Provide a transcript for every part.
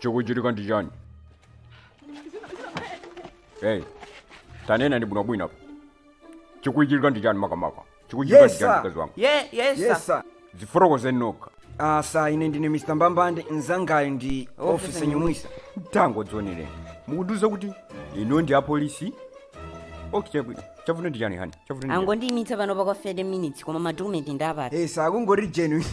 chikuchitika ndi chani hey tanenani bwinobwino apa chikuchitika ndi chani makamaka chikuchitika ndi chani mkazi wanga ye yesa yesa dzifotokozeni nokha asa ine ndine mr mbambande mzangayo ndi ofisa nyumwisa tango dzioneleni mukundiuza kuti inu ndi apolisi okay chavuta ndi chani hani chavuta ndi chani? angondiimitsa pano pakwana 30 minutes koma madokumenti ndawapatsa akungoti ijeni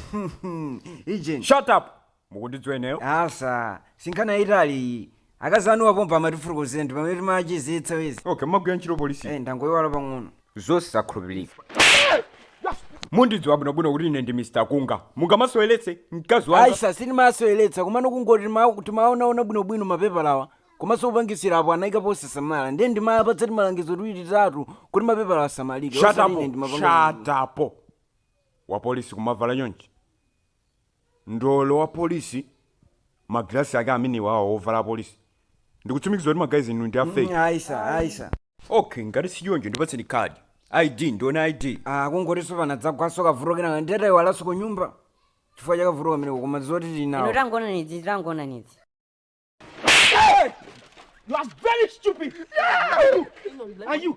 ijeni shut up Mukundidziwa ineyo? Asa, sinkhani yayitali iyi. Akazi anuwa pompa amatifotokozera ndi pamene timachizitsa izi. Okay, mumagwira ntchito polisi? Eh, ndangoyiwala pang'ono. Zosakhulupirika. Mundidziwa bwinobwino kuti ine ndi Mr. Kunga. Mungamaseweretse mkazi wanga? Aisa, sindimaseweretsa komano kungoti tima- timaonaona bwinobwino mapepalawa komanso opangisira apo anayika posasamala ndiye ndimapatsa timalangizo tiwiri titatu kuti mapepala asamalike Shut osati up. ine ndimapanga- Shut up. Wapolisi kumavala chonchi. ndolo wa police ma glass ake amenewawa ovala apolice ndikutsimikiza kuti ma guys inu ndi a fake Mm, aisa aisa okay ngati sichoncho ndipatseni card id ndione id akungotiso panadzagwanso kavuto kenaka ndiye tayiwalanso ku nyumba chifukwa cha kavuto kameneko koma zoti ID tinayo tangona nidzi tangona nidzi You are very stupid. Yeah. Are you?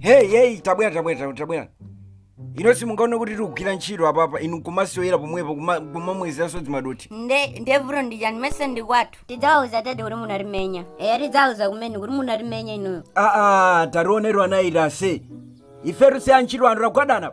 hey hey tabwera tabwera tabwera, tabwera inu simungaone kuti tikugwira ntchito apapa inu nkumasewera pomwepo kuma- kumamwezeranso dzimadothi nde nde vuto ndijani mesa ndi kwathu tidzawauza tete kuti munatimenya eya tidzawauza kumene kuti munatimenya inuyo aa taonani ana inu ifetu si antchito anthu tagwadana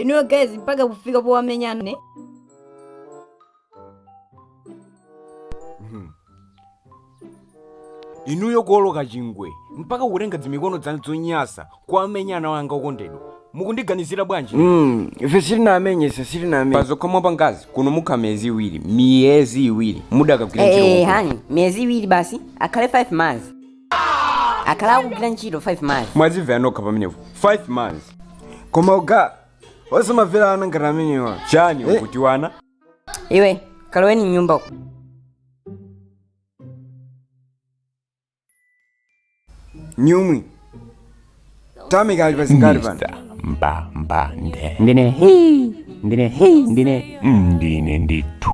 inuyo guys mpaka kufika powamenya nde inuyo kuoloka chingwe mpaka kutenga dzimikono dzanu dzonyasa kuwamenya ana wanga okondedwa mukundiganizira bwanji Mm, ife sitinamenye ife sitinamenye mwazokha mwapanga zi kuno mwakhala miyezi iwiri miyezi iwiri mudakagwira ntchito Eh, konkuno. hani miyezi iwiri basi akhale 5 months akhala akugwira ntchito 5 months mwazimvera nokha pamenepo 5 months koma ungathe osamamvera ana ngati amenewa chani Eh. ukuti ana inu kaloweni mnyumba uko. nyumwi tamika ali pazingati pano Mr. mbambande ndine hii ndine hii ndine ndine ndithu